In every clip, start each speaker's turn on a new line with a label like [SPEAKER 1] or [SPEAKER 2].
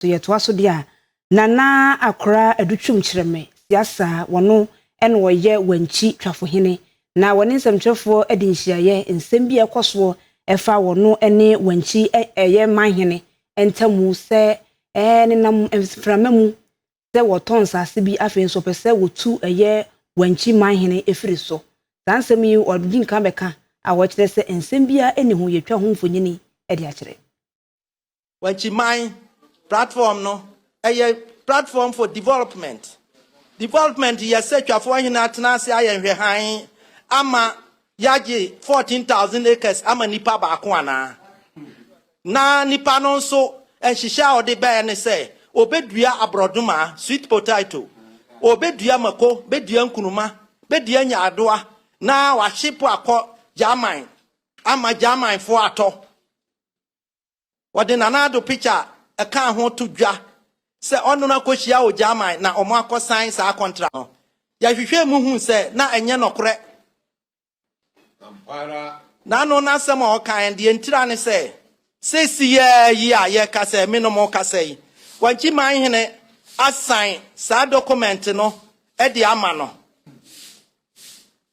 [SPEAKER 1] So yɛtoa so de a, Nana Akora Adu Twum Kyerɛme Siasa a wɔno na wɔyɛ Wankyi Twafohene na wɔne nsɛmtwerɛfoɔ adi nhyiaeɛ, nsɛm bi a ɛkɔ soɔ ɛfa wɔno ne Wankyi ɛ ɛyɛ manhene ntamu sɛ ɛɛ nenam mframa mu sɛ wɔtɔn nsaase bi afei nso wɔpɛ sɛ wɔtu ɛyɛ Wankyi manhene ɛfiri so. Saa nsɛm yi wɔdi nkan bɛka a wɔkyerɛ sɛ nsɛm biara nni ho, yɛtwa ho mfonini de akyerɛ. Wankyiman
[SPEAKER 2] platform no, ɛyɛ platform for development. Development yɛ sɛ Twafoɔ Ahene atena ase ayɛ nhwɛhan ama yɛagye 14,000 acres ama nipa baako anaa? Na nipa no nso nhyehyɛ a ɔde bɛɛ ne sɛ ɔbɛdua aborɔdoma, sweet potato, ɔbɛdua mako, bɛdua nkunuma, bɛdua nyaadoa na wahye po akɔ German ama Germanfoɔ atɔ. Wɔde Nana Addo picture a ɛkaa ho to dwa sɛ ɔne no akɔhyia wɔ German na wɔakɔsan saa kɔntra no. Yɛhwehwɛɛ mu huu sɛ na ɛnyɛ nɔkorɛ. Na ano n'asɛm a ɔkae no, deɛ enti ara ne sɛ, seesei ara yi a yɛreka sɛ me ne mo rekasa yi, Wankye Manhene asan saa dɔkɔmɛnte no de ama no.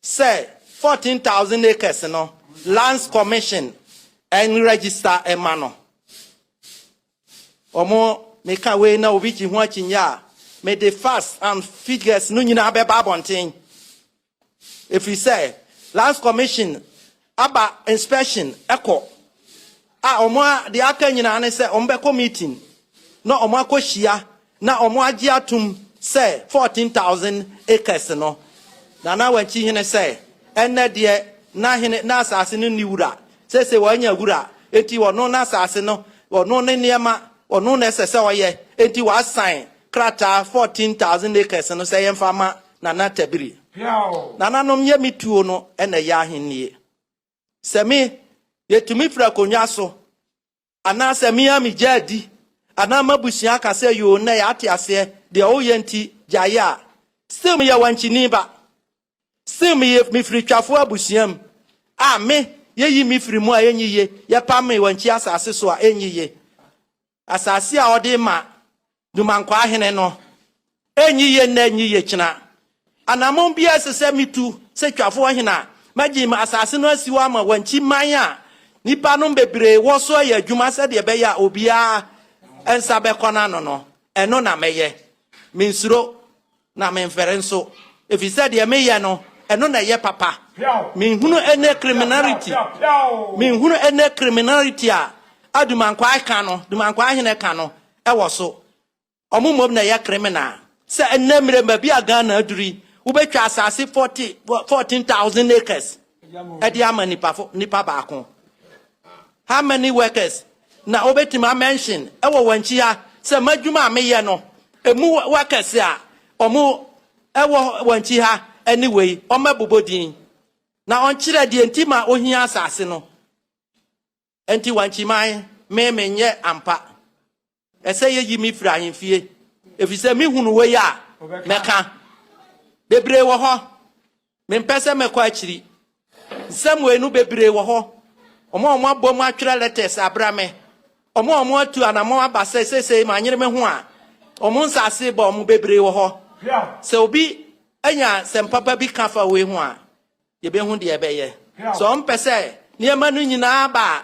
[SPEAKER 2] sɛ fourteen thousand acres no lands commission ɛn register ɛma no ɔmo meka wei na obi gye ho akyinnye a me de facts and figures no nyinaa bɛba abɔnten efiri sɛ lands commission Aba inspection kɔ a wɔn a deɛ aka nyinaa ne sɛ wɔn bɛkɔ meeting na wɔn akɔ hyia na wɔn agye atum sɛ fourteen thousand acres no na na wɔn akyi hene sɛ ɛnɛ deɛ na hene na asase no ni wura sese wɔn anya wura eti wɔn no na asase no wɔn no ne nneɛma wɔn no na ɛsɛ sɛ ɔyɛ eti wɔn asan krataa fourteen thousand acres no sɛ yɛn fa ma Nana Tabiri. Nananom yɛ me tuo no na ɛyɛ ahennie. Sɛ me, yɛtumi firi akonnwa so, anaa sɛ me ara megya adi, anaa m'abusua aka sɛ yoo nnɛ yɛate aseɛ deɛ woyɛ nti gyaeɛ a, still meyɛ wankyini ba. Still meyɛ mefiri twafoɔ abusua mu a me, yɛyi me firi mu a ɛnyɛ yie, yɛpam me wankyi asase so a ɛnyɛ yie. Asase a ɔde rema nnomankwaa hene no renyi ye nnɛ nyi ye kyena. Anammɔn bi a ɛsɛ sɛ mitu sɛ twafoɔ hene a magye asase no asi hɔ ama wankyi man a nnipanom bebree wɔ so ayɛ adwuma sɛdeɛ ɛbɛyɛ a obiara nsa bɛkɔ n'ano no, ɛno na mɛyɛ. Mensuro Na memfɛre nso, ɛfiri sɛ deɛ meyɛ no, ɛno na ɛyɛ papa. Menhunu ɛnnɛ criminality, menhunu ɛnnɛ criminality a a Dumankwaa ka no, Dumankwaa hene ka no ɛwɔ so. Ɔmo mmom na ɛyɛ criminal. Sɛ ɛnnɛ mmerɛ mu baabi a Ghana aduru yi, wobɛtwa asase 40 14,000 acres ɛde ama nipa fo, nipa baako. How many workers na wobɛtumi a mention wɔ wɔn akyi ha sɛ m'adwuma a meyɛ no ɛmu workers a wɔn wɔ wɔn akyi ha ɛne wei wɔmmɛbobɔ din na wɔnkyerɛ deɛ nti ma ohia asase no nti wankyiman me menyɛ ampa Ɛsɛ yɛyi me firi ahemfie, ɛfiri sɛ mehunu wei a, mɛka. Bebree wɔ hɔ, mempɛ sɛ mɛkɔ akyiri. Nsɛm wei no bebree wɔ hɔ, wɔn a wɔabom atwerɛ letters abra me, wɔn a wɔatu anammɔn aba sɛ seesei manyere me ho a wɔn nsase bɔ wɔn bebree wɔ hɔ. Sɛ obi anya sɛm papa bi ka fa wei ho a, Yɛbɛhu deɛ ɛbɛyɛ. Sɛ wɔn pɛ sɛ nneɛma no nyinaa aba a,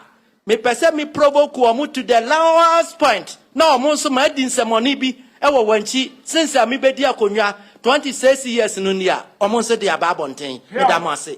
[SPEAKER 2] mepɛ sɛ me provoke wɔn to the lowest point na wɔn nso madi nsɛmɔne bi wɔ wɔn akyi sen sɛ mebɛdi akonnwa 26 years no ni a wɔn nso de aba abɔnten. Meda mo ase.